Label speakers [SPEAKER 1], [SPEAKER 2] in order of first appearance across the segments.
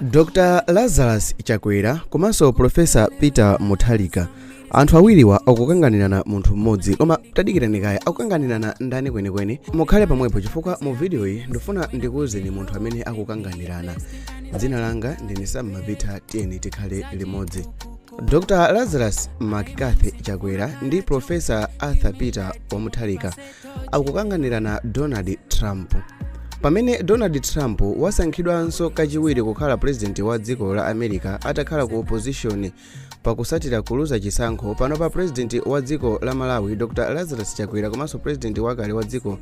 [SPEAKER 1] dr lazarus chakwera komanso profesa peter mutharika anthu awiriwa akukanganirana munthu mmodzi koma tadikirani kaye akukanganirana ndani kwenikweni mukhale pamwepo chifukwa mu vidiyoyi ndifuna ndikuwuzeni munthu amene akukanganirana dzina langa ndine sammapita tiyeni tikhale limodzi dr lazarus mccarthy chakwera ndi profesa arthur peter wamutharika akukanganirana donald trump pamene donald trump wasankhidwanso kachiwiri kukhala pulezidenti wa dziko la america atakhala ku opposition pakusatira kuluza chisankho pano pulezidenti wa dziko la malawi dr lazarus chakwera komanso pulezidenti wakale wa dziko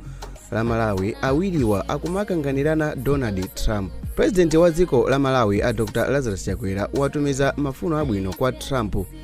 [SPEAKER 1] la malawi awiriwa akumakanganirana donald trump pulezidenti wa dziko la malawi a dr lazarus chakwera watumiza mafuno abwino kwa trump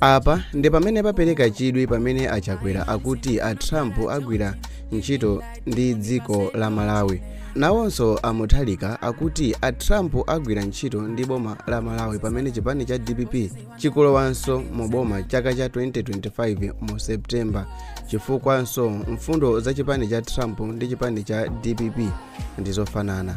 [SPEAKER 1] apa ndi pamene papereka chidwi pamene a chakwera akuti a trump agwira ntchito ndi dziko la malawi nawonso a mutharika akuti a trump agwira ntchito ndi boma la malawi pamene chipani cha dpp chikalowanso mu boma chaka cha 2025 mu september chifukwanso mfundo za chipani cha trump ndi chipani cha dpp ndizofanana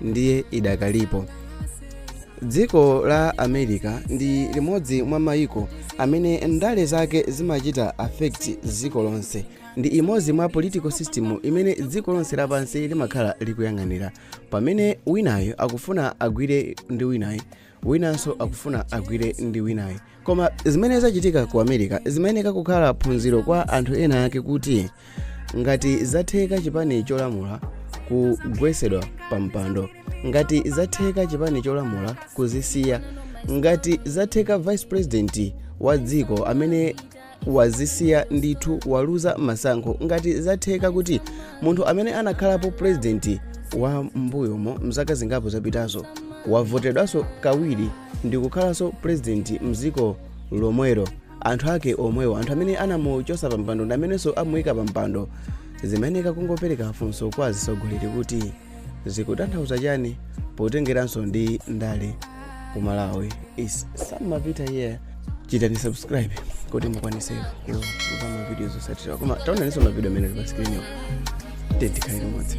[SPEAKER 1] ndiye idakalipo dziko la america ndi limodzi mwa mayiko amene ndale zake zimachita affect dziko lonse ndi imodzi mwa political system imene dziko lonse lapansi limakhala likuyang'anira pamene winayo akufuna agwire ndi winayo winanso akufuna agwire ndi winayo koma zimene zachitika ku america zimayeneka kukhala phunziro kwa anthu ena ake kuti ngati zatheka chipani cholamula kugwesedwa pa mpando ngati zatheka chipani cholamula kuzisiya ngati zatheka vice president wa dziko amene wazisiya ndithu waluza masankho ngati zatheka kuti munthu amene anakhalapo purezidenti wa mbuyomo mzaka zingapo zapitazo wavotedwanso kawiri ndi kukhalanso purezidenti mdziko lomwero anthu ake omwewo anthu amene anamuchosa pampando ndi amenenso amuyika pampando zimayeneka kungopereka funso kwa atsogoleri kuti zikutanthauza chani potengeranso ndi ndale ku malawi is sammapita here chitani subscribe kuti mukwanise kuona mavidiyo zosatira koma taonaninso mavidiyo amene ali pa skrini tiyeni tikhale limodzi